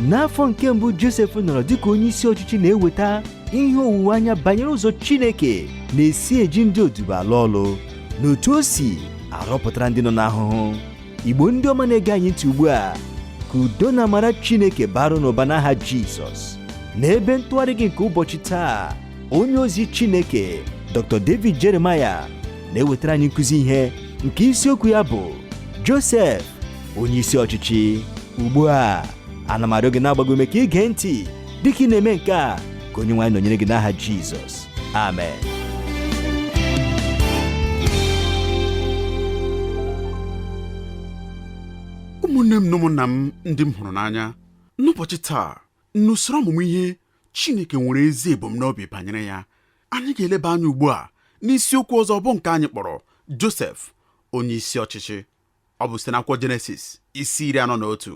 n'afọ nke mbụ josef nọrọ dịka onye isi ọchịchị na-eweta ihe owuwe anya banyere ụzọ chineke na-esi eji ndị odibo alụ ọlụ na otu o si arọpụtara ndị nọ n'ahụhụ igbo ndị ọma na-ege anyị ntị ugbu a ka udo na amara chineke baara unu ụba n'aha jizọs n'ebe ntụgharị gị nke ụbọchị taa onye ozi Chineke Dr. David Jeremiah na-ewetara anyị nkụzi ihe nke isiokwu ya bụ Josef onye isi ọchịchị ugbu a ana m arịọ gị na-agba gị ume ka ị gee ntị dịka ị na-eme nke a ka onye nwe anyị nọnyere gị n'aha Jizọs amen ụmụnne m na ụmụnna m ndị m hụrụ n'anya n'ụbọchị taa n'usoro ọmụmụ ihe Chineke nwere ezi ebumnobi banyere ya anyị ga-eleba anya ugbu a n'isiokwu ọzọ bụ nke anyị kpọrọ Josef onye isi ọchịchị ọ bụ site n'akwụkwọ Jenesis isi iri anọ na otu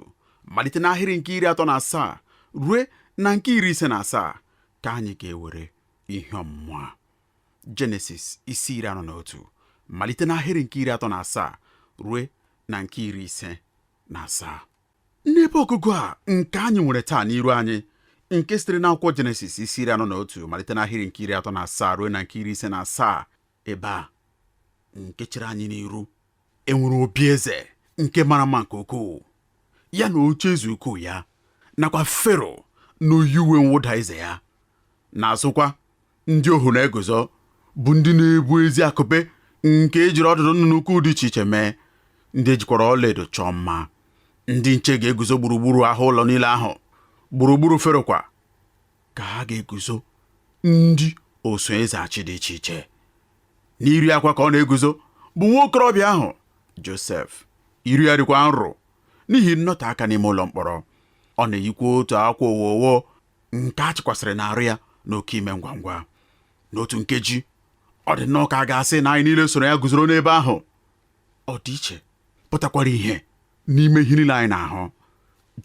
malite n'ahịrị nke iri atọ na asaa rue na nke iri ise na asaa ka anyị ga-ewere ihe ọmụmụ a Jenesis isi iri anọ na otu malite n'ahịrị nke iri atọ na asaa rue na nke iri ise na asaa n'ebe ọgụgụ a nke anyị nwere taa n'iru anyị nke sitere n'akwụkwọ jenesis isi iri anọ na otu malite n'ahịrị nke iri atọ na asaa rue na nke iri ise na asaa ebe a nke chere anyị n'iru enwere obi eze nke mara mma nke ukwuu ya na oche eze ukwu ya nakwa fero na-eyi uwe mwụda eze ya n'azụkwa ndị ohu na-eguzo bụ ndị na-ebu ezi akụpe nke ejiri ọdụdụ nnụnụ ukwu dị iche iche mee ndị ejikwara ọlaedo chọọ mma ndị nche ga-eguzo gburugburu ahụ ụlọ niile ahụ gburugburu fero kwa ka ha ga-eguzo ndị oso eze achị dị iche iche n'iru ya kwa ka ọ na-eguzo bụ nwa okorobịa ahụ josef iru ya dịkwa nro n'ihi nnọte aka n'ime ụlọ mkpọrọ ọ na-eyikwa otu akwa owowo nke a chịkwasịrị n'arụ ya n'oke ime ngwa ngwa n'otu nkeji ọ dị nnọọ ka a ga-asị na anyị niile soro ya guzoro n'ebe ahụ ọ dị iche pụtakwara ihe n'ime ihe niile anyị na-ahụ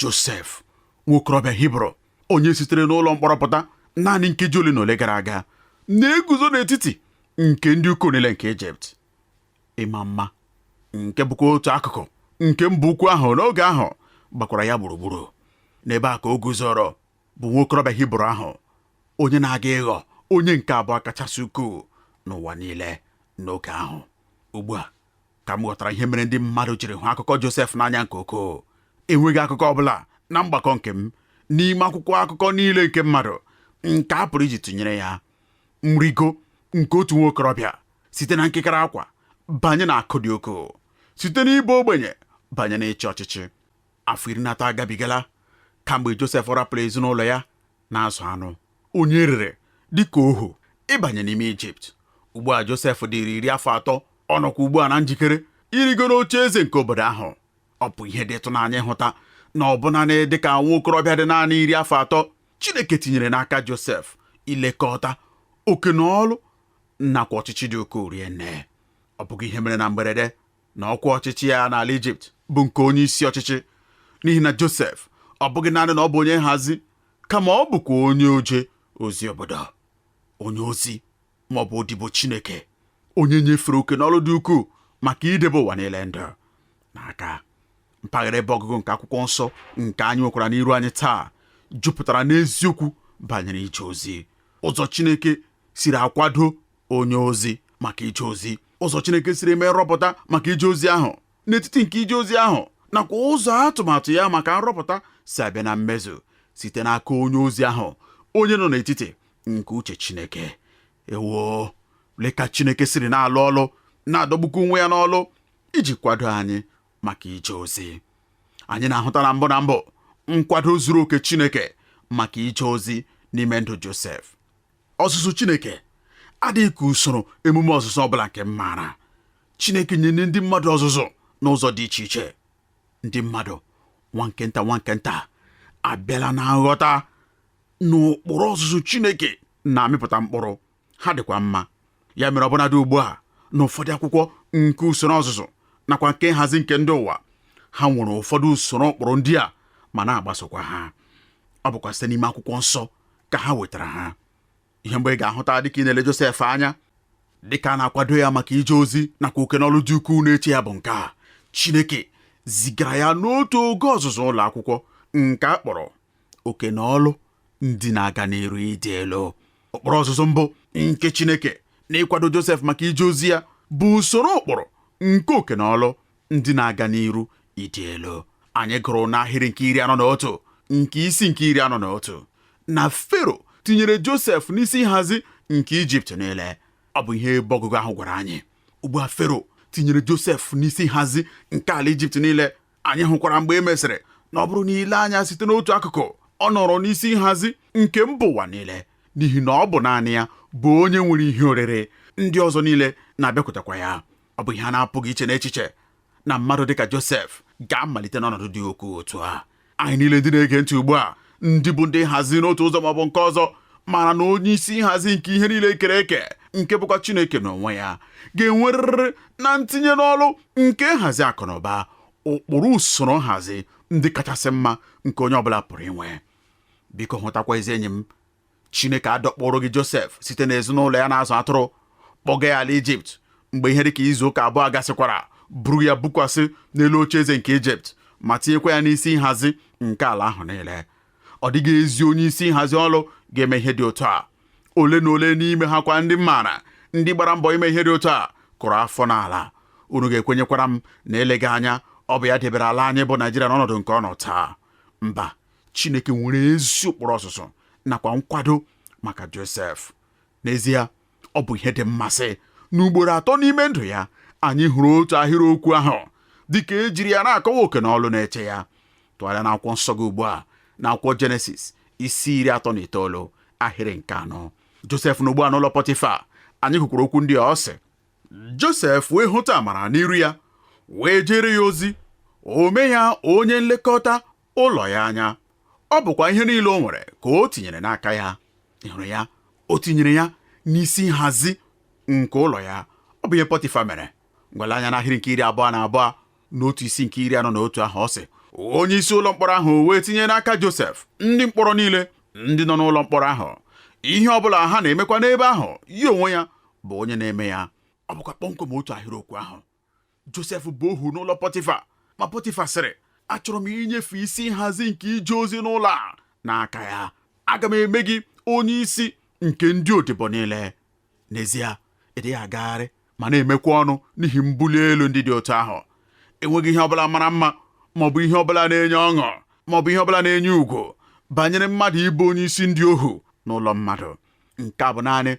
Josef nwokorobịa Hibru onye sitere n'ụlọ mkpọrọ pụta naanị nkeji ole na ole gara aga na-eguzo n'etiti nke ndị ukwu niile nke Ijipt ịma mma nke bụkwa otu akụkụ nke mba ukwu ahụ n'oge ahụ gbakwara ya gburugburu n'ebe a ka o guzoro bụ nwa okorobịa hibru ahụ onye na-aga ịghọ onye nke abụọ kachasị ukwuu n'ụwa niile n'oge ahụ ugbu a ka m ghọtara ihe mere ndị mmadụ jiri hụ akụkọ Josef n'anya nke ukwuu enweghị akụkọ ọ bụla na mgbakọ nke m n'ime akwụkwọ akụkọ niile nke mmadụ nke a pụrụ iji tụnyere ya nrigo nke otu nwa okorobịa site na nkekere akwa banye na akụ dị ukwuu site n'ịbụ ogbenye banye n'ịchị ọchịchị afọ iri na atọ agabigala kamgbe Josef rapụrụ ezinụlọ ya na-azụ anụ onye e rere dị ka ohu ịbanye n'ime Ijipt ugbu a Josef dịrị iri afọ atọ ọ nọkwa ugbu a na njikere irigo n'oche eze nke obodo ahụ ọ bụ ihe dị ịtụnanya ịhụta na ọbụna na dịka nwa okorobịa dị naanị iri afọ atọ Chineke tinyere n'aka Josef ilekọta oke na ọlụ nakwa ọchịchị dị ukwuu rie nne ọ bụghị ihe mere na mberede na ọkwa ọchịchị ya n'ala Ijipt bụ nke onye isi ọchịchị n'ihi na Josef ọ bụghị naanị na ọ bụ onye nhazi kama ọ bụkwa onye oje ozi obodo onye ozi ma ọ bụ odibo Chineke onye e nyefere oke n'ọlụ dị ukwuu maka idebe ụwa niile ndụ n'aka mpaghara ebe ọgụgụ nke akwụkwọ nsọ nke anyị nwekwara n'iru anyị taa jupụtara n'eziokwu banyere ije ozi ụzọ Chineke siri akwado onye ozi maka ije ozi ụzọ Chineke siri eme nrọpụta maka ije ozi ahụ n'etiti nke ije ozi ahụ nakwa ụzọ atụmatụ ya maka nrọpụta si abịa na mmezu site n'aka onye ozi ahụ onye nọ n'etiti nke uche Chineke ewo lee ka Chineke siri na-alụ ọlụ na-adọgbukwa onwe ya n'ọlụ iji kwado anyị maka ije ozi anyị na-ahụta na mbụ na mbụ nkwado zuru oke Chineke maka ije ozi n'ime ndụ Josef Ọzụzụ Chineke adịghị ka usoro emume ọzụzụ ọ bụla nke m maara. Chineke nyere ndị mmadụ ọzụzụ n'ụzọ dị iche iche. Ndị mmadụ nwa nke nta nwa nke nta abịala na nghọta na ụkpụrụ ọzụzụ Chineke na-amịpụta mkpụrụ, ha dịkwa mma. Ya mere ọbụnadị ugbu a na ụfọdụ akwụkwọ nke usoro ọzụzụ nakwa nke nhazi nke ndị ụwa, ha nwere ụfọdụ usoro ụkpụrụ ndị a ma na-agbasokwa ha. Ọ bụkwa site n'ime akwụkwọ nsọ ka ha wetara ha ihe mbụ ị ga-ahụta dịka ị na-ele Josef anya dịka a na-akwado ya maka ije ozi nakwa oke n'ọlụ dị ukwuu na-eche ya bụ nke a Chineke zigara ya n'otu oge ọzụzụ ụlọ akwụkwọ nke a kpọrọ oke na ọlụ ndị na-aga n'iru ịdị elu ụkpụrụ ọzụzụ mbụ nke Chineke na ịkwado Josef maka ije ozi ya bụ usoro ụkpụrụ nke oke na ọlụ ndị na-aga n'iru ịdị elu anyị gụrụ n'ahịrị nke iri anọ na otu nke isi nke iri anọ na otu na fero tinyere josef n'isi nhazi nke ijipt niile ọ bụ ihe ebe ọgụgụ ahụ gwara anyị ugbu a fero tinyere josef n'isi nhazi nke ala ijipt niile anyị hụkwara mgbe e mesịrị na ọ bụrụ na i lee anya site n'otu akụkụ ọ nọrọ n'isi nhazi nke mba ụwa niile n'ihi na ọ bụ naanị ya bụ onye nwere ihe oriri ndị ọzọ niile na-abịakwutekwa ya ọ bụ ihe a na-apụghị iche n'echiche na mmadụ dịka Josef ga-amalite n'ọnọdụ dị ukwuu otu a anyị niile ndị na-ege ntị ugbu a ndị bụ ndị nhazi n'otu ụzọ maọbụ nke ọzọ mara na onye isi nhazi nke ihe niile kere eke nke bụkwa Chineke n'onwe ya ga-enwerịrị na ntinye n'ọlụ nke nhazi akụ na ụba ụkpụrụ usoro nhazi ndị kachasị mma nke onye ọbụla pụrụ inwe biko hụtakwa ezi enyi m Chineke adọkpụrụghị Josef site n'ezinụlọ ya na-azụ atụrụ kpọga ya ala Ijipt mgbe ihe dịka izu ụka abụọ gasịkwara buru ya bukwasị n'elu oche eze nke Ijipt ma tinyekwa ya n'isi nhazi nke ala ahụ niile ọ dịghị ezi onye isi nhazi ọlụ ga-eme ihe dị otu a ole na ole n'ime ha kwa ndị m maara ndị gbara mbọ ime ihe dị otu a kụrụ afọ n'ala unu ga-ekwenyekwara m na eleghị anya ọ bụ ya debere ala anyị bụ Naijiria n'ọnọdụ nke ọ nọ taa mba chineke nwere ezi ụkpụrụ ọzụzụ nakwa nkwado maka josef n'ezie ọ bụ ihe dị mmasị na ugboro atọ n'ime ndụ ya anyị hụrụ otu ahịrịokwu ahụ dịka ejiri ya na-akọwa oke na ọlụ na-eche ya tụgharịa n'akwụkwọ nsọ gị ugbu a n'akwụkwọ jenesis isi iri atọ na itoolu ahịrị nke anọ josef nọ ugbu a n'ụlọ pọtịfa anyị hụkwara okwu ndị a ọ sị josef wee hụta amara n'iru ya wee jeere ya ozi o mee ya onye nlekọta ụlọ ya anya ọ bụkwa ihe niile o nwere ka o tinyere n'aka ya ị hụrụ ya o tinyere ya n'isi nhazi nke ụlọ ya ọ bụ ihe pọtifa mere ngwa lee anya n'ahịrị nke iri abụọ na abụọ n'otu isi nke iri anọ na otu ahụ ọ sị onye isi ụlọ mkpọrọ ahụ wee tinye n'aka Josef ndị mkpọrọ niile ndị nọ n'ụlọ mkpọrọ ahụ ihe ọ bụla ha na-emekwa n'ebe ahụ ya onwe ya bụ onye na-eme ya ọ bụkwa kpọmkwem otu ahịrịokwu ahụ josef bụ ohu n'ụlọ pọtịfa ma pọtịfa sịrị achọrọ m inyefe isi nhazi nke ije ozi n'ụlọ a n'aka ya aga m eme gị onye isi nke ndị odibo niile n'ezie ị dịghị agagharị ma na-emekwa ọnụ n'ihi mbuli elu ndị dị otu ahụ enweghị ihe ọbụla mara mma ma ọ bụ ihe ọbụla na-enye ọṅụ ma ọ bụ ihe ọbụla na-enye ugwu banyere mmadụ ịbụ onye isi ndị ohu n'ụlọ mmadụ nke a bụ naanị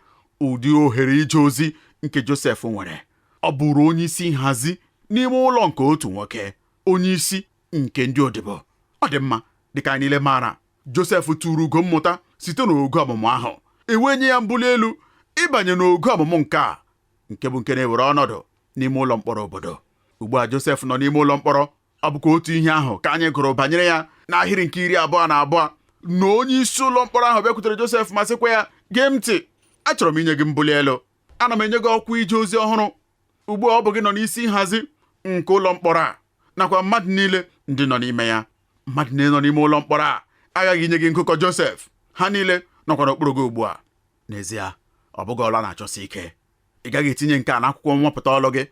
ụdị ohere ije ozi nke Josef nwere Ọ bụụrụ onye isi nhazi n'ime ụlọ nke otu nwoke, onye isi nke ndị odibo. Ọ dị mma, dịka anyị niile maara, Josef turu ugo mmụta site n'ogo ọmụmụ ahụ, e wee nye ya mbuli elu ịbanye n'ogo ọmụmụ nke a, nke bụ nke na-ewere ọnọdụ n'ime ụlọ mkpọrọ obodo. Ugbu a Josef nọ n'ime ụlọ mkpọrọ, ọ bụkwa otu ihe ahụ ka anyị gụrụ banyere ya n'ahịrị nke iri abụọ na abụọ na onye isi ụlọ mkpọrọ ahụ bịakwutere Josef ma sịkwa ya, gee m ntị, achọrọ m inye gị mbuli elu. ana m enye gị ọkwa ije ozi ọhụrụ ugbu a ọ bụ gị nọ n'isi nhazi nke ụlọ mkpọrọ a nakwa mmadụ niile ndị nọ n'ime ya mmadụ niile nọ n'ime ụlọ mkpọrọ a aghaghị inye gị nkụkọ Josef ha niile nọkwa n'okpuru gị ugbu a n'ezie ọ bụghị ọlụ a na-achọsi ike ị gaghị etinye nke a n'akwụkwọ nwapụta ọlụ gị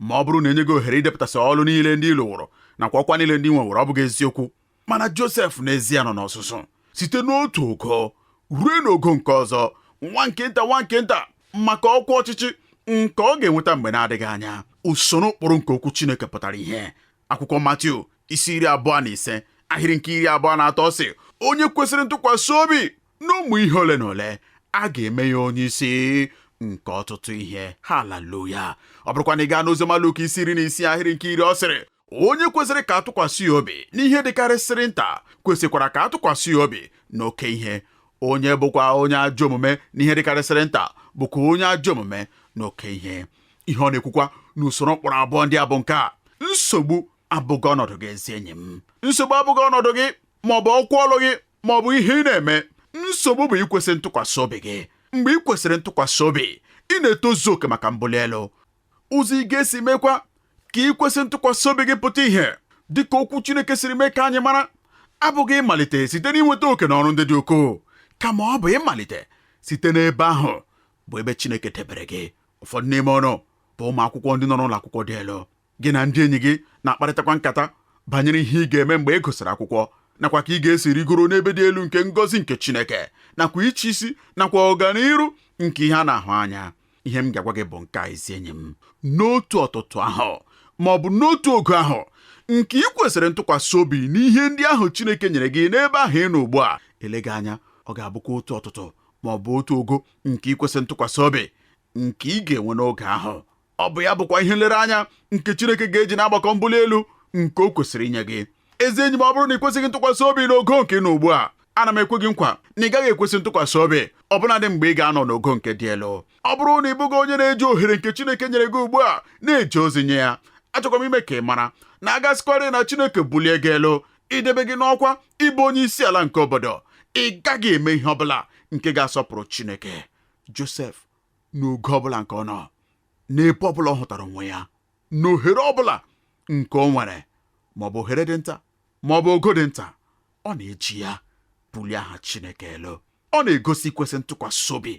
ma ọ bụrụ na e nye gị ohere idepụtasị ọlụ niile ndị ị lụwụrụ nakwa ọkwa niile ndị i nwewụrụ ọ bụghị eziokwu mana Josef n'ezie nọ n'ọzụzụ site n'otu ogo ruo n'ogo nke ọzọ nwa nke nta nwa nke nta maka ọkwa ọchịchị nke ọ ga-enweta mgbe na-adịghị anya usoro ụkpụrụ nke okwu Chineke pụtara ihe akwụkwọ Matiu isi iri abụọ na ise ahịrị nke iri abụọ na atọ sị onye kwesịrị ntụkwasị obi n'ụmụ ihe ole na ole a ga-eme ya onye isi nke ọtụtụ ihe haleluya ọ bụrụkwa na ị gaa n'oziọma Luk isi iri na isii ahịrị nke iri ọ sịrị onye kwesịrị ka a tụkwasị ya obi n'ihe dịkarịsịrị nta kwesịkwara ka a tụkwasị ya obi n'oke ihe onye bụkwa onye ajọ omume n'ihe dịkarịsịrị nta bụkwa onye ajọ omume n'oke ihe ihe ọ na-ekwukwa n'usoro ụkpụrụ abụọ ndị a bụ nke a nsogbu abụghị ọnọdụ gị ezi enyi m nsogbu abụghị ọnọdụ gị ma ọ bụ ọkwa ọlụ gị ma ọ bụ ihe ị na-eme nsogbu bụ ikwesị ntụkwasị obi gị mgbe ị kwesịrị ntụkwasị obi ị na-etozu oke maka mbuli elu ụzọ ị ga-esi mekwa ka ikwesị ntụkwasị obi gị pụta ihe dị ka okwu Chineke siri mee ka anyị mara abụghị ịmalite site n'inweta oke na ọrụ ndị dị ukwuu kama ọ bụ ịmalite site n'ebe ahụ bụ ebe Chineke debere gị ụfọdụ n'ime unu bụ ụmụ akwụkwọ ndị nọ n'ụlọ akwụkwọ dị elu gị na ndị enyi gị na-akparịtakwa nkata banyere ihe ị ga-eme mgbe ị gụsịrị akwụkwọ nakwa ka ị ga-esi rigoro n'ebe dị elu nke ngọzi nke Chineke nakwa ịchị isi nakwa ọganiru nke ihe a na-ahụ anya ihe m ga-agwa gị bụ nke a ezi enyi m n'otu ọtụtụ ahụ ma ọ bụ n'otu ogo ahụ nke ị kwesịrị ntụkwasị obi n'ihe ndị ahụ Chineke nyere gị n'ebe ahụ ị nọ ugbu a eleghị anya ọ ga-abụkwa otu ọtụtụ ma ọ bụ otu ogo nke ikwesị ntụkwasị obi nke ị ga-enwe n'oge ahụ ọ bụ ya bụkwa ihe nlereanya nke Chineke ga-eji na-agbakọ mbuli elu nke o kwesịrị inye gị ezi enyi m ọ bụrụ na ị kwesịghị ntụkwasị obi n'ogo nke ị nọ ugbu a ana m ekwe gị nkwa na ị gaghị ekwesị ntụkwasị obi ọbụnadị mgbe ị ga-anọ n'ogo nke dị elu ọ bụrụ na ị bụghị onye na-eji ohere nke Chineke nyere gị ugbu a na-eje ozi nye ya achọkwa m ime ka ị mara na a ga-asịkwarị na Chineke bulie gị elu idebe gị n'ọkwa ịbụ onye isi ala nke obodo ị gaghị eme ihe ọ bụla nke ga-asọpụrụ Chineke Josef n'ogo ọbụla nke ọ nọ n'ebe ọbụla ọ hụtara onwe ya n'ohere ọbụla nke o nwere maọbụ ohere dị nta maọbụ ogo dị nta ọ na-eji ya bulie aha Chineke elu ọ na-egosi ikwesị ntụkwasị obi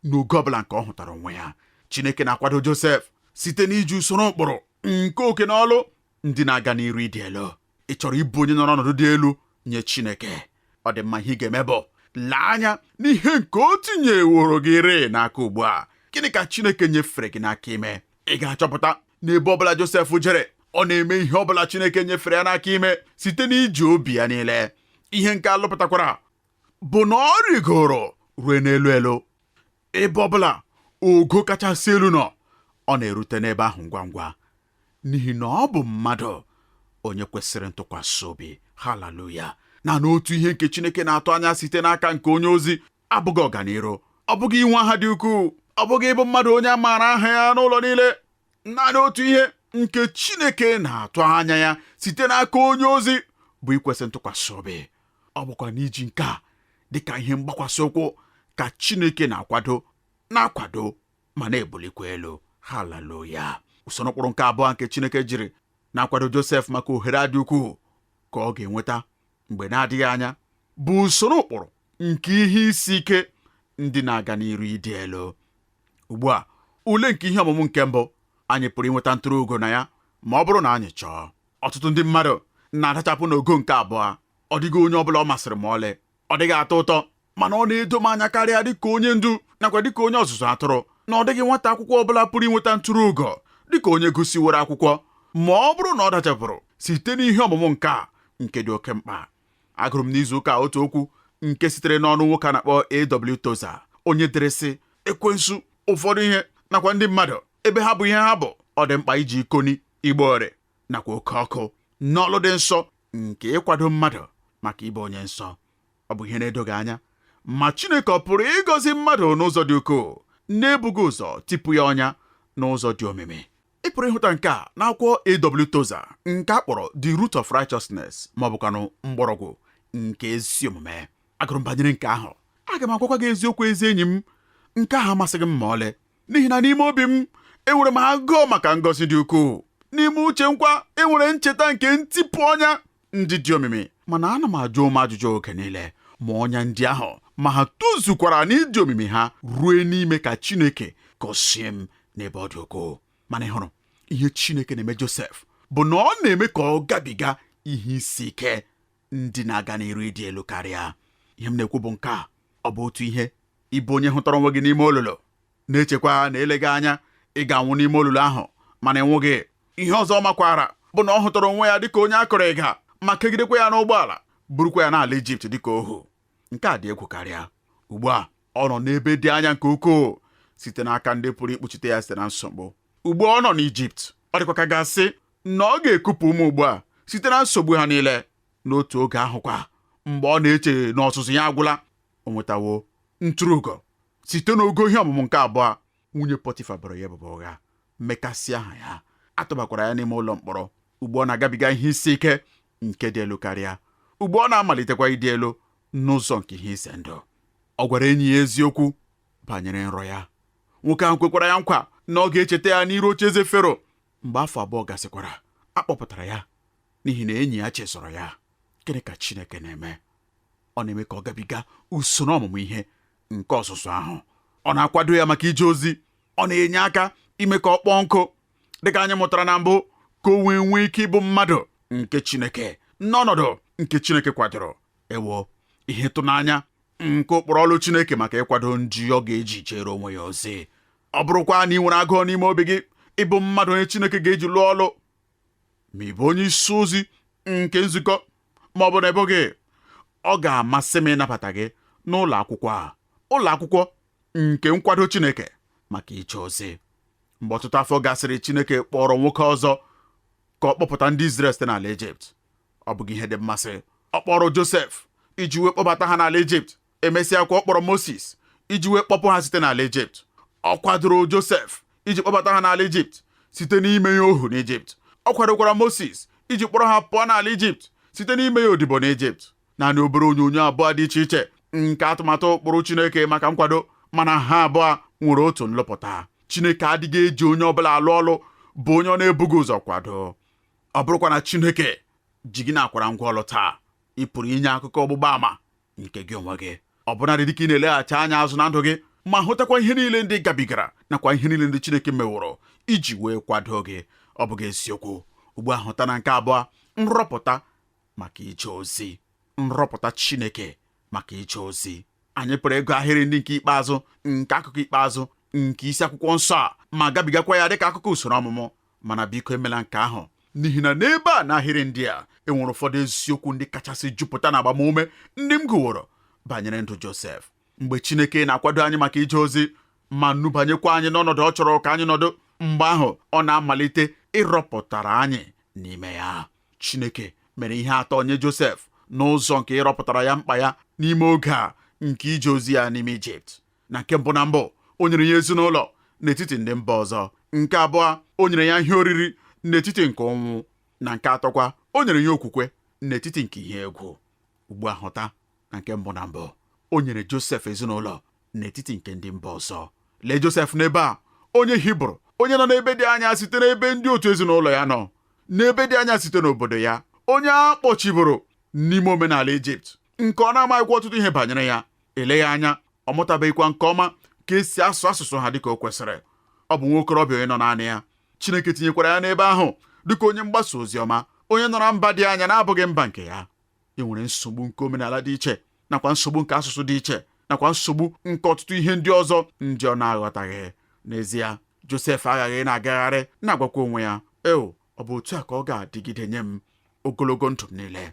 n'ogo ọbụla nke ọ hụtara onwe ya Chineke na-akwado Josef site n'iji usoro ụkpụrụ nke oke na ọlụ ndị na-aga n'iru ịdị elu ị chọrọ ịbụ onye nọrọ ọnọdụ dị elu nye Chineke ọ dị mma ihe ị ga-eme bụ lee anya n'ihe nke o tinyeworo gị rịị n'aka ugbu a gịnị ka Chineke nyefere gị n'aka ime ị ga-achọpụta n'ebe ọbụla Josef jere ọ na-eme ihe ọbụla Chineke nyefere ya n'aka ime site n'iji obi ya niile ihe nke a lụpụtakwara bụ na ọ rịgoro ruo n'elu elu Ebe ọ bụla ogo kachasị elu nọ, ọ na-erute n'ebe ahụ ngwa ngwa, n'ihi na ọ bụ mmadụ onye kwesịrị ntụkwasị obi. Haleluya! Naanị otu ihe nke Chineke na-atụ anya site n'aka nke onye ozi abụghị ọganiru, ọ bụghị inwe aha dị ukwuu, ọ bụghị ịbụ mmadụ onye a maara aha ya n'ụlọ niile. Naanị otu ihe nke Chineke na-atụ anya ya site n'aka onye ozi bụ ikwesị ntụkwasị obi. ọ bụkwa n'iji nke a dị ka ihe mgbakwasị ụkwụ ka Chineke na-akwado na-akwado ma na-ebulikwa elu haleluya usoro ụkpụrụ nke abụọ nke Chineke jiri na-akwado Josef maka ohere a dị ukwuu ka ọ ga-enweta mgbe na-adịghị anya bụ usoro ụkpụrụ nke ihe isi ike ndị na-aga n'iru ịdị elu ugbu a ule nke ihe ọmụmụ nke mbụ anyị pụrụ inweta ntụrụ ugo na ya ma ọ bụrụ na anyị chọọ Ọtụtụ ndị mmadụ na-adachapụ n'ogo nke abụọ. Ọ dịghị onye ọ bụla ọ masịrị ma ọlị. Ọ dịghị atọ ụtọ, mana ọ na-edo m anya karịa dịka onye ndu nakwa dịka onye ọzụzụ atụrụ na ọ dịghị nwata akwụkwọ ọ bụla pụrụ inweta ntụrụ ugo dịka onye gụsịworo akwụkwọ ma ọ bụrụ na ọ dachapụrụ site n'ihe ọmụmụ nke a nke dị oke mkpa. Agụrụ m n'izu ụka otu okwu nke sitere n'ọnụ nwoke a na-akpọ A.W. Tozer onye dere sị ekwensu ụfọdụ ihe nakwa ndị mmadụ ebe ha bụ ihe ha bụ ọ dị mkpa iji ikoni igbo ore nakwa oke ọkụ n'ọlụ dị nsọ nke ịkwado mmadụ maka ịbụ onye nsọ ọ bụ ihe na-edoghị anya ma Chineke ọ pụrụ ịgọzi mmadụ n'ụzọ dị ukwuu na-ebughị ụzọ tipu ya ọnya n'ụzọ dị omimi ị pụrụ ịhụta nke a n'akwụkwọ A.W. Tozer nke a kpọrọ The Root of Righteousness ma ọ bụkwanụ mgbọrọgwụ nke ezi omume agụrụ m banyere nke ahụ aga m agwakwa gị eziokwu ezi enyi m nke ahụ amasịghị m ma ọlị n'ihi na n'ime obi m enwere m agụụ maka ngọzi dị ukwuu n'ime uche m kwa enwere ncheta nke ntipụ ọnya ndị dị omimi mana ana m ajụ onwe m ajụjụ oge niile ma ọnya ndị ahụ ma ha tozukwara n'ịdị omimi ha ruo n'ime ka Chineke gọzie m n'ebe ọ dị ukwuu mana ị hụrụ ihe Chineke na-eme Josef bụ na ọ na-eme ka ọ gabiga ihe isi ike ndị na-aga n'iru ịdị elu karịa ihe m na-ekwu bụ nke a ọ bụ otu ihe ịbụ onye hụtara onwe gị n'ime olulu na-echekwa na eleghị anya ị ga-anwụ n'ime olulu ahụ mana ị nwụghị ihe ọzọ ọ makwara bụ na ọ hụtara onwe ya dịka onye a kụrụ ịga ma kegidekwa ya n'ụgbọala burukwa ya n'ala Ijipt dịka ohu nke a dị egwu karịa ugbu a ọ nọ n'ebe dị anya nke ukwuu site n'aka ndị pụrụ ikpuchite ya site na nsogbu ugbu a ọ nọ n'Ijipt ọ dịkwa ka a ga-asị na ọ ga-ekupụ ume ugbu a site na nsogbu ha niile n'otu oge ahụkwa mgbe ọ na-eche na ọzụzụ ya agwụla o nwetawo ntụrụugo site n'ogo ihe ọmụmụ nke abụọ nwunye pọtifa boro ya ebubo ụgha mekasịa aha ya atụbakwara ya n'ime ụlọ mkpọrọ ugbu a ọ na-agabiga ihe isi ike nke dị elu karịa ugbu a ọ na-amalitekwa ịdị elu n'ụzọ nke ihe ize ndụ ọ gwara enyi ya eziokwu banyere nrọ ya nwoke ahụ kwekwara ya nkwa na ọ ga-echeta ya n'iru oche eze fero Mgbe afọ abụọ gasịkwara, a kpọpụtara ya n'ihi na enyi ya chezọrọ ya. Gịnị ka Chineke na-eme? Ọ na-eme ka ọ gabiga usoro ọmụmụ ihe nke ọzụzụ ahụ. Ọ na-akwado ya maka ije ozi. Ọ na-enye aka ime ka ọ kpọọ nkụ, dịka anyị mụtara na mbụ, ka o wee nwee ike ịbụ mmadụ nke Chineke n'ọnọdụ nke Chineke kwadoro. Ewo, ihe ịtụnanya nke ụkpụrụ ọlụ Chineke maka ịkwado ndị ọ ga-eji jere onwe ya ozi! ọ bụrụkwa na ị nwere agụụ n'ime obi gị ịbụ mmadụ onye Chineke ga-eji lụọ ọlụ ma ị bụ onye isi ozi nke nzukọ ma ọ bụ na ị bụghị ọ ga-amasị m ịnabata gị n'ụlọ akwụkwọ a ụlọ akwụkwọ nke nkwado Chineke maka ije ozi mgbe ọtụtụ afọ gasịrị Chineke kpọrọ nwoke ọzọ ka ọ kpọpụta ndị Izrel site n'ala Ijipt ọ bụghị ihe dị mmasị ọ kpọrọ Josef iji wee kpọbata ha n'ala Ijipt emesịakwa ọ kpọrọ Mosis iji wee kpọpụ ha site n'ala Ijipt ọ kwadoro Josef iji kpọbata ha n'ala Ijipt site n'ime ya ohu n'Ijipt ọ kwadokwara Mosis iji kpọrọ ha pụọ n'ala Ijipt site n'ime ya odibo n'Ijipt naanị obere onyonyo abụọ dị iche iche nke atụmatụ ụkpụrụ Chineke maka nkwado mana ha abụọ nwere otu nlụpụta Chineke adịghị eji onye ọbụla alụ ọlụ bụ onye ọ na-ebughị ụzọ kwado ọ bụrụkwa na Chineke ji gị na-akwara ngwa ọlụ taa ị pụrụ inye akụkọ ọgbụgba ama nke gị onwe gị ọ bụnadị dịka ị na-eleghachi anya azụ na ndụ gị ma hụtakwa ihe niile ndị ị gabigara nakwa ihe niile ndị Chineke meworo iji wee kwado gị ọ bụghị eziokwu ugbu a hụta na nke abụọ nrọpụta maka ije ozi nrọpụta Chineke maka ije ozi anyị pụrụ ịgụ ahịrị ndị nke ikpeazụ nke akụkọ ikpeazụ nke isi akwụkwọ nsọ a ma gabigakwa ya dịka akụkọ usoro ọmụmụ mana biko emela nke ahụ n'ihi na n'ebe a n'ahịrị ndị a enwere ụfọdụ eziokwu ndị kachasị jupụta na agbamume ndị m gụworo banyere ndụ Josef mgbe Chineke na-akwado anyị maka ije ozi ma nubanyekwa anyị n'ọnọdụ ọ chọrọ ka anyị nọdụ mgbe ahụ ọ na-amalite ịrọpụtara anyị n'ime ya Chineke mere ihe atọ nye Josef n'ụzọ nke ịrọpụtara ya mkpa ya n'ime oge a nke ije ozi ya n'ime Ijipt na nke mbụ na mbụ o nyere ya ezinụlọ n'etiti ndị mba ọzọ nke abụọ o nyere ya ihe oriri n'etiti nke ụnwụ na nke atọkwa o nyere ya okwukwe n'etiti nke ihe egwu ugbu a hụta na nke mbụ na mbụ o nyere Josef ezinụlọ n'etiti nke ndị mba ọzọ lee Josef n'ebe a onye Hibru onye nọ n'ebe dị anya site n'ebe ndị otu ezinụlọ ya nọ n'ebe dị anya site n'obodo ya onye a kpọchiburu n'ime omenala Ijipt nke ọ na-amaghịkwa ọtụtụ ihe banyere ya eleghị anya ọ mụtabeghịkwa nke ọma ka e si asụ asụsụ ha dịka o kwesịrị ọ bụ nwa okorobịa onye nọ naanị ya Chineke tinyekwara ya n'ebe ahụ dịka onye mgbasa ozi ọma onye nọ na mba dị anya na-abụghị mba nke ya e nwere nsogbu nke omenala dị iche nakwa nsogbu nke asụsụ dị iche nakwa nsogbu nke ọtụtụ ihe ndị ọzọ ndị ọ na-aghọtaghị n'ezie Josef aghaghị na-agagharị na-agwakwa onwe ya eo ọ bụ otu a ka ọ ga-adịgide nye m ogologo ndụ m niile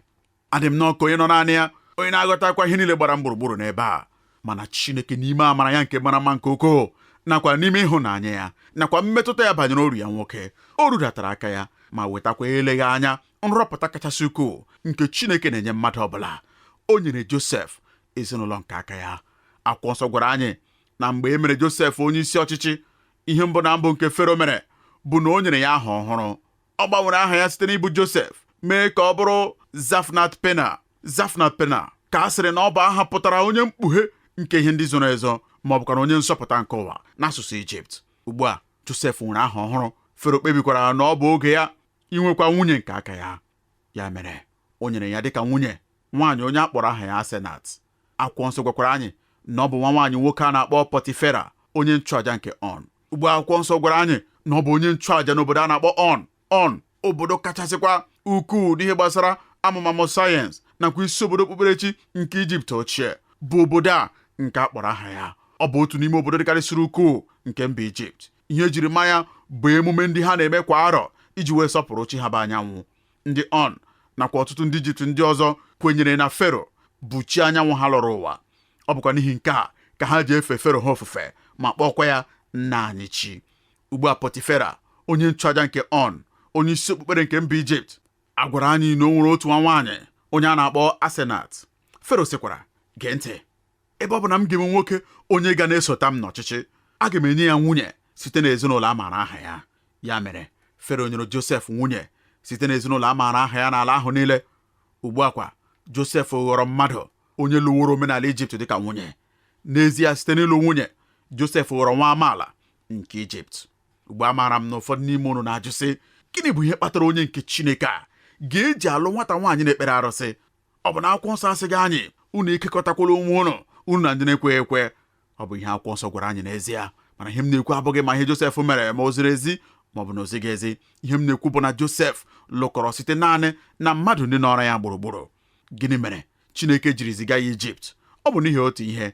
adị m nnọọ ka onye nọ naanị ya onye na-aghọtakwa ihe niile gbara m gburugburu n'ebe a mana Chineke n'ime amara ya nke mara mma nke ukwuu nakwa n'ime ịhụnanya ya nakwa mmetụta ya banyere oru ya nwoke o rudatara aka ya ma wetakwa eleghị anya nrọpụta kachasị ukwuu nke Chineke na-enye mmadụ ọbụla o nyere Josef ezinụlọ nke aka ya akwụkwọ nsọ gwara anyị na mgbe e mere Josef onye isi ọchịchị ihe mbụ na mbụ nke Fero mere bụ na o nyere ya aha ọhụrụ ọ gbanwere aha ya site n'ịbụ Josef mee ka ọ bụrụ Zafnat Pena Zafnat Pena ka a sịrị na ọ bụ aha pụtara onye mkpughe nke ihe ndị zoro ezo ma ọ bụkwanụ onye nzọpụta nke ụwa n'asụsụ Ijipt ugbu a Josef nwere aha ọhụrụ Fero kpebikwara na ọ bụ oge ya inwekwa nwunye nke aka ya ya mere o nyere ya dịka nwunye nwaanyị onye a kpọrọ aha ya Asenat akwụkwọ nsọ gwakwara anyị na ọ bụ nwa nwaanyị nwoke a na-akpọ Pọtifera onye nchụaja nke ọn ugbu a akwụkwọ nsọ gwara anyị na ọ bụ onye nchụaja n'obodo a na-akpọ ọn ọn obodo kachasịkwa ukwuu n'ihe gbasara amụmamụ sayensị nakwa isi obodo okpukperechi nke ijipt ochie bụ obodo a nke a kpọrọ aha ya ọ bụ otu n'ime obodo dịkarịsịrị ukwuu nke mba ijipt ihe e jiri ma ya bụ emume ndị ha na-eme kwa arọ iji wee sọpụrụ chi ha bụ anyanwụ ndị ọn nakwa ọtụtụ ndị ijipt ndị ọzọ kwenyere na fero bụ chi anyanwụ ha lọrọ ụwa ọ bụkwa n'ihi nke a ka ha ji efe fero ha ofufe ma kpọọkwa ya nna anyị chi ugbu a pọtifera onye nchụaja nke ọn onye isi okpukpere nke mba ijipt a gwara anyị na o nwere otu nwa nwaanyị onye a na-akpọ asenat fero sịkwara gee ntị ebe ọ bụ na m ga-enwe nwoke onye ga na-esota m n'ọchịchị aga m enye ya nwunye site n'ezinụlọ a maara aha ya ya mere fero nyere josef nwunye site n'ezinụlọ a maara aha ya n'ala ahụ niile ugbu a kwa josef ghọrọ mmadụ onye lụworo omenala ijipt dịka nwunye n'ezie site n'ịlụ nwunye josef ghọrọ nwa amaala nke ijipt ugbu a amaara m na ụfọdụ n'ime unu na-ajụ sị gịnị bụ ihe kpatara onye nke chineke a ga-eji alụ nwata nwaanyị na-ekpere arụsị ọ bụ na akwụkwọ nsọ asịghị anyị unu ekekọtakwala onwe unu unu na ndị na-ekweghị ekwe ọ bụ ihe akwụkwọ nsọ gwara anyị n'ezie mana ihe m na-ekwu abụghị ma ihe Josef mere ma o ziri ezi ma ọ bụ na o zighị ezi ihe m na-ekwu bụ na Josef lụkọrọ site naanị na mmadụ ndị nọrọ ya gburugburu gịnị mere Chineke jiri ziga ya Ijipt ọ bụ n'ihi otu ihe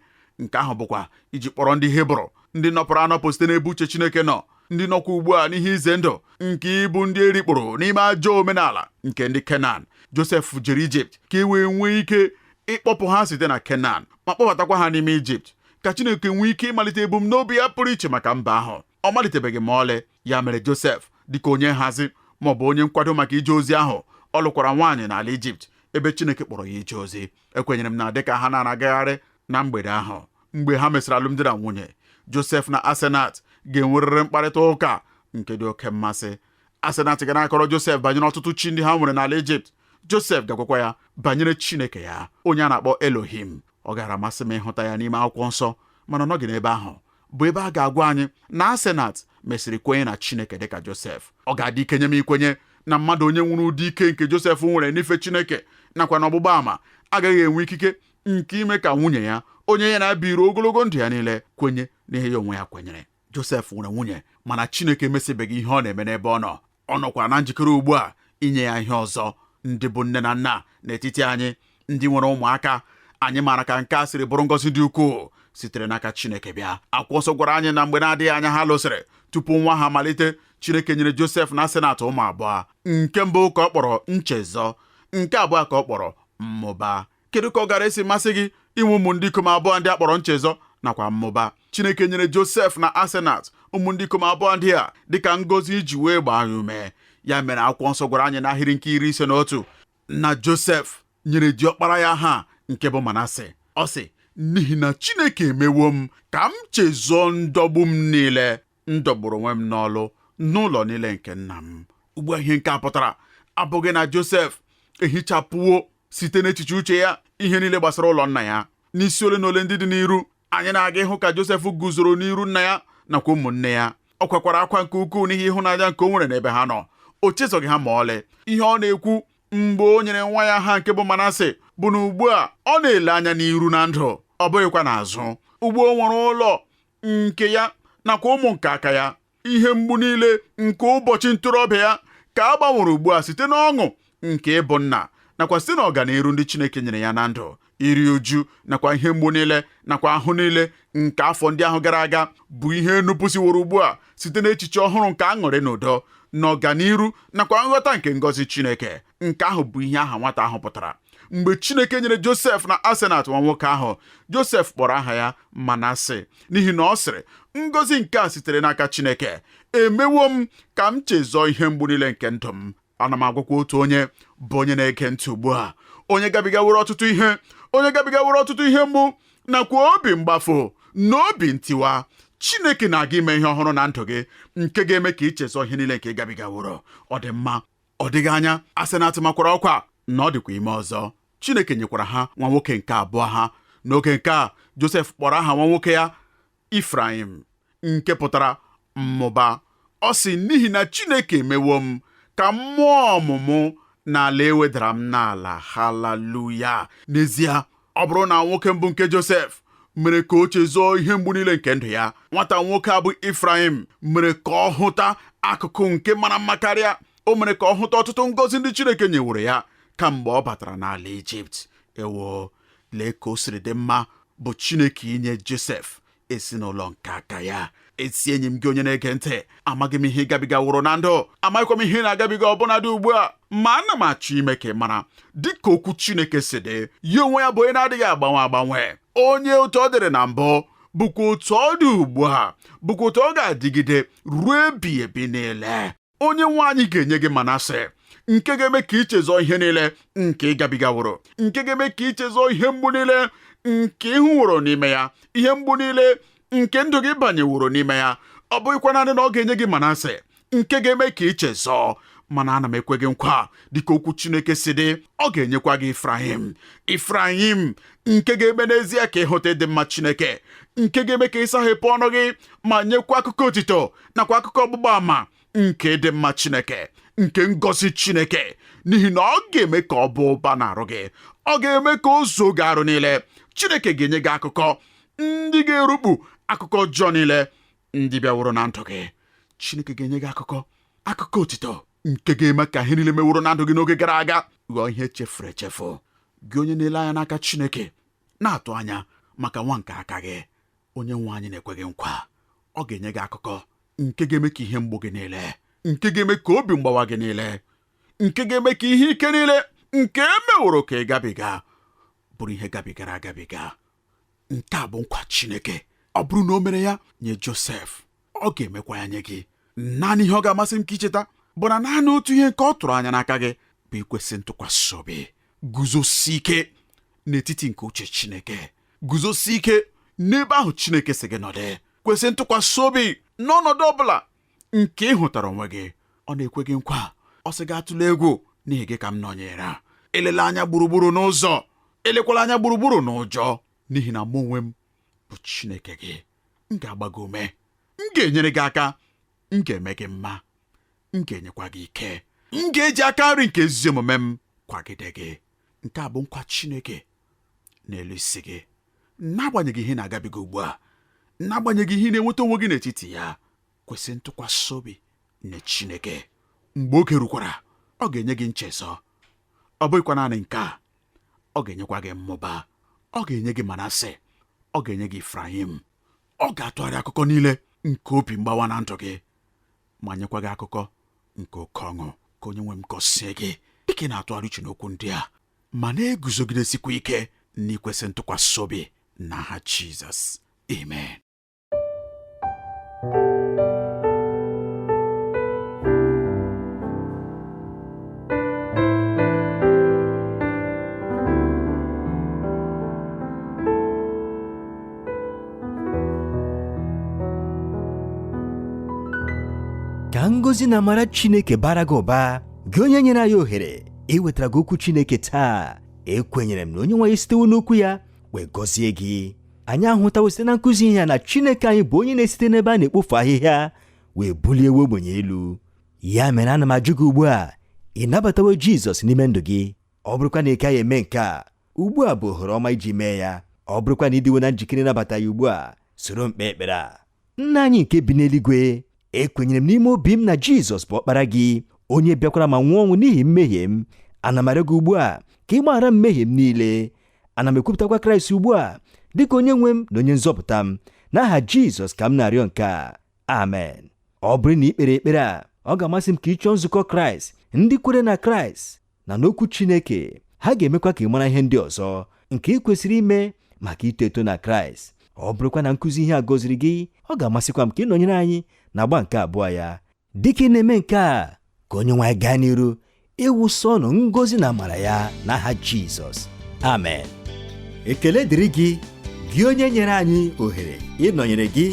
nke ahụ bụkwa iji kpọrọ ndị Hibru ndị nọpụrụ anọpụ site n'ebe uche Chineke nọ ndị nọkwa ugbu a n'ihe ize ndụ nke ịbụ ndị e rikpuru n'ime ajọ omenala nke ndị Kenan Josef jere Ijipt ka e wee nwee ike ịkpọpụ ha site na Kenan ma kpọbatakwa ha n'ime Ijipt ka Chineke nwee ike ịmalite ebumnobi ya pụrụ iche maka mba ahụ ọ malitebeghị ma ọlị ya mere Josef dịka onye nhazi ma ọ bụ onye nkwado maka ije ozi ahụ ọ lụkwara nwaanyị n'ala Ijipt ebe Chineke kpọrọ ya ije ozi ekwenyere m na dịka ha na-agagharị na mgbede ahụ mgbe ha mesịrị alụmdi na nwunye Josef na Asenat ga-enwerịrị mkparịta ụka nke dị oke mmasị Asenat ga na-akọrọ Josef banyere ọtụtụ chi ndị ha nwere n'ala Ijipt Josef ga-agwakwa ya banyere Chineke ya onye a na-akpọ Elohim ọ gaara amasị m ịhụta ya n'ime akwụkwọ nsọ mana ọ nọghị n'ebe ahụ bụ ebe a ga-agwa anyị na Asenat mesịrị kwenye na Chineke dịka Josef ọ ga-adị ike nye m ikwenye na mmadụ onye nwere ụdị ike nke Josef nwere n'ife Chineke nakwa na ọgbụgba ama agaghị enwe ikike nke ime ka nwunye ya onye ya na ya biri ogologo ndụ ya niile kwenye n'ihe ya onwe ya kwenyere Josef nwere nwunye mana Chineke emesịbeghị ihe ọ na-eme n'ebe ọ nọ ọ nọkwa na njikere ugbu a inye ya ihe ọzọ ndị bụ nne na nna n'etiti anyị ndị nwere ụmụaka anyị maara ka nke a siri bụrụ ngọzi dị ukwuu sitere n'aka Chineke bịa akwụkwọ nsọ gwara anyị na mgbe na-adịghị anya ha lụsịrị tupu ụnwụ ahụ amalite Chineke nyere Josef na Asenat ụmụ abụọ nke mbụ ka ọ kpọrọ nchezọ nke abụọ ka ọ kpọrọ mmụba kedu ka ọ gaara esi masị gị inwe ụmụ ndị ikom abụọ ndị a kpọrọ nchezọ nakwa mmụba Chineke nyere Josef na Asenat ụmụ ndị ikom abụọ ndị a dịka ngọzi iji wee gbaa ya ume ya mere akwụkwọ nsọ gwara anyị n'ahịrị nke iri ise na otu na Josef nyere diọkpara ya aha nke bụ Manase ọ sị n'ihi na Chineke emewo m ka m chezọọ ndọgbu m niile m dọgburu onwe m n'ọlụ na ụlọ niile nke nna m ugbu a ihe nke a pụtara abụghị na Josef ehichapụwo site n'echiche uche ya ihe niile gbasara ụlọ nna ya n'isi ole na ole ndị dị n'iru anyị na-aga ịhụ ka Josef guzoro n'iru nna ya nakwa ụmụnne ya ọ kwakwara akwa nke ukwuu n'ihi ịhụnanya nke o nwere n'ebe ha nọ o chezọghị ha ma ọlị ihe ọ na-ekwu mgbe o nyere nwa ya aha nke bụ Manase bụ na ugbu a ọ na-ele anya n'iru na ndụ ọ bụghịkwa n'azụ ugbu a o nwere ụlọ nke ya nakwa ụmụ nke aka ya ihe mgbu niile nke ụbọchị ntorobịa ya ka a gbanwere ugbu a site n'ọṅụ nke ịbụ nna nakwa site n'ọganiru ndị Chineke nyere ya na ndụ iri uju nakwa ihe mgbu niile nakwa ahụhụ niile nke afọ ndị ahụ gara aga bụ ihe e nupụsịworo ugbu a site n'echiche ọhụrụ nke aṅụrị na udo na ọganiru nakwa nghọta nke ngọzi Chineke nke ahụ bụ ihe aha nwata ahụ pụtara mgbe Chineke nyere Josef na Asenat nwa nwoke ahụ Josef kpọrọ aha ya Manase n'ihi na ọ sịrị ngọzi nke a sitere n'aka Chineke emewo m ka m chezọọ ihe mgbu niile nke ndụ m ana m agwakwa otu onye bụ onye na-ege ntị ugbu a onye gabigaworo ọtụtụ ihe onye gabigaworo ọtụtụ ihe mgbu nakwa obi mgbafụ na obi ntiwa Chineke na-aga ime ihe ọhụrụ na ndụ gị nke ga-eme ka i chezọọ ihe niile nke ị gabigaworo ọ dị mma ọ dịghị anya Asenat makwara ọkwa na ọ dịkwa ime ọzọ Chineke nyekwara ha nwa nwoke nke abụọ ha n'oge nke a Josef kpọrọ aha nwa nwoke ya Ifrayim nke pụtara mmụba ọ sị n'ihi na Chineke emewo m ka m mụọ ọmụmụ n'ala e wedara m n'ala haleluya n'ezie ọ bụrụ na nwoke mbụ nke Josef mere ka o chezọọ ihe mgbu niile nke ndụ ya nwata nwoke a bụ Ifrayim mere ka ọ hụta akụkụ nke mara mma karịa o mere ka ọ hụta ọtụtụ ngọzi ndị Chineke nyeworo ya kamgbe ọ batara n'ala Ijipt ewoo lee ka o siri dị mma bụ Chineke inye Josef ezinụlọ nke aka ya ezi enyi m gị onye na-ege ntị amaghị m ihe ị gabigaworo na ndụ amaghịkwa m ihe ị na-agabiga ọbụna dị ugbu a ma ana m achọ ime ka ị mara dịka okwu Chineke si dị ya onwe ya bụ onye na-adịghị agbanwe agbanwe onye otu ọ dịrị na mbụ bụkwa otu ọ dị ugbu a bụkwa otu ọ ga-adịgide ruo ebighị ebi niile onye nwe anyị ga-enye gị manase nke ga-eme ka i chezọọ ihe niile nke ị gabigaworo nke ga-eme ka i chezọọ ihe mgbu niile nke ị hụworo n'ime ya ihe mgbu niile nke ndụ gị banyeworo n'ime ya ọ bụghịkwa naanị na ọ ga-enye gị manase nke ga-eme ka i chezọọ mana ana m ekwe gị nkwa dịka okwu Chineke si dị ọ ga-enyekwa gị Ifrayim Ifrayim nke ga-eme n'ezie ka ị hụta ịdị mma Chineke nke ga-eme ka ị saghepụ ọnụ gị ma nyekwa akụkọ otito nakwa akụkọ ọgbụgba ama nke ịdị mma Chineke nke ngọzi Chineke n'ihi na ọ ga-eme ka ọ bụ ụba n'arụ gị ọ ga-eme ka o zuo gị arụ niile Chineke ga-enye gị akụkọ ndị ga-erukpu akụkọ ọjọọ niile ndị bịaworo na ndụ gị Chineke ga-enye gị akụkọ akụkọ otito nke ga-eme ka ihe niile meworo na ndụ gị n'oge gara aga ghọọ ihe chefuru echefu gị onye na-ele anya n'aka Chineke na-atụ anya maka nwa nke aka gị onye nwe anyị na-ekwe gị nkwa ọ ga-enye gị akụkọ nke ga-eme ka ihe mgbu gị niile nke ga-eme ka obi mgbawa gị niile nke ga-eme ka ihe ike niile nke e meworo ka ị gabiga bụrụ ihe gabigara agabiga nke a bụ nkwa Chineke ọ bụrụ na o mere ya nye Josef ọ ga-emekwa ya nye gị naanị ihe ọ ga-amasị m ka i cheta bụ na naanị otu ihe nke ọ tụrụ anya n'aka gị bụ ikwesị ntụkwasị obi guzosie ike n'etiti nke uche Chineke guzosi ike n'ebe ahụ Chineke sị gị nọdụ kwesị ntụkwasị obi n'ọnọdụ ọ bụla nke ị hụtara onwe gị ọ na-ekwe gị nkwa ọ sị gị atụla egwu n'ihi gị ka m nọnyere elela anya gburugburu n'ụzọ elekwala anya gburugburu n'ụjọ n'ihi na mụ onwe m bụ Chineke gị m ga-agba gị ume m ga-enyere gị aka m ga-eme gị mma m ga-enyekwa gị ike m ga-eji aka nri nke ezi omume m kwagide gị nke a bụ nkwa Chineke n'elu isi gị n'agbanyeghị ihe ị na-agabiga ugbu a n'agbanyeghị ihe ị na-enweta onwe gị n'etiti ya kwesị ntụkwasị obi nye Chineke mgbe oge rukwara ọ ga-enye gị nchezọ ọ bụghịkwa naanị nke a ọ ga-enyekwa gị mmụba ọ ga-enye gị Manase ọ ga-enye gị Ifrayim ọ ga-atụgharị akụkọ niile nke obi mgbawa na ndụ gị ma nyekwa gị akụkọ nke oke ọṅụ ka onye nwe m gọzie gị dịka ị na-atụgharị uche n'okwu ndị a ma na-eguzogidesikwa ike n'ikwesị ntụkwasị obi n'aha Jizọs amen ka ngọzi na amara Chineke bara gị ụba gị onye nyere anyị ohere iwetara gị okwu Chineke taa ekwenyere m na onye nwe anyị esitewo n'okwu ya wee gọzie gị anyị ahụtawo site na nkụzi ihe a na Chineke anyị bụ onye na-esite n'ebe a na-ekpofu ahịhịa wee bulie nwa ogbenye elu ya mere ana m ajụ gị ugbu a ị nabatawo Jizọs n'ime ndụ gị ọ bụrụkwa na ị kaghị eme nke a ugbu a bụ ohere ọma iji mee ya ọ bụrụkwa na ị dịwo na njikere ịnabata ya ugbu a soro m kpee ekpere a nna anyị nke bi n'eluigwe ekwenyere m n'ime obi m na jizọs bụ ọkpara gị onye bịakwara ma nwụọ ọnwụ n'ihi mmehie m ana m arịọ gị ugbu a ka ị gbaghara mmehie m niile ana m ekwupụtakwa kraịst ugbu a dịka onye nwe m na onye nzọpụta m n'aha jizọs ka m na-arịọ nke a amen ọ bụrụ na ị kpere ekpere a ọ ga-amasị m ka ị chọọ nzukọ kraịst ndị kwere na kraịst na n'okwu Chineke ha ga-emekwa ka ị mara ihe ndị ọzọ nke ị kwesịrị ime maka ito eto na Kraịst ọ bụrụkwa na nkụzi ihe a gọziri gị ọ ga-amasịkwa m ka ị nọnyere anyị n'agba nke abụọ ya dịka ị na-eme nke a ka onye nwe anyị gaa n'iru ịwụsa unu ngọzi na amara ya n'aha Jizọs amen ekele dịrị gị gị onye nyere anyị ohere ịnọnyere gị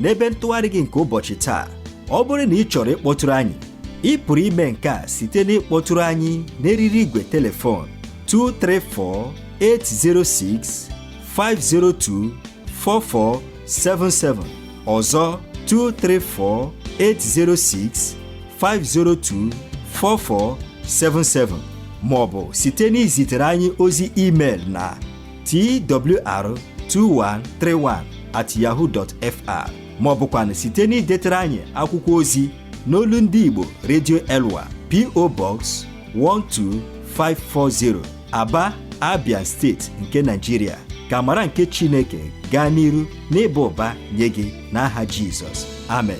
n'ebe ntụgharị gị nke ụbọchị taa ọ bụrụ na ị chọrọ ịkpọtụrụ anyị ị pụrụ ime nke a site n'ịkpọtụrụ anyị n'eriri igwe telefon 234-806-502-4477 ọzọ 234-806-502-4477 ma ọ bụ site n'izitere anyị ozi email na twr2131 at yahoo dot fr ma ọ bụkwanụ site na idetara anyị akwụkwọ ozi n'olu ndị Igbo Radio Elwa PO Box 12540 Aba Abia steeti nke Nigeria ka amara nke Chineke gaa n'iru n'ịba ụba nye gị n'aha Jizọs amen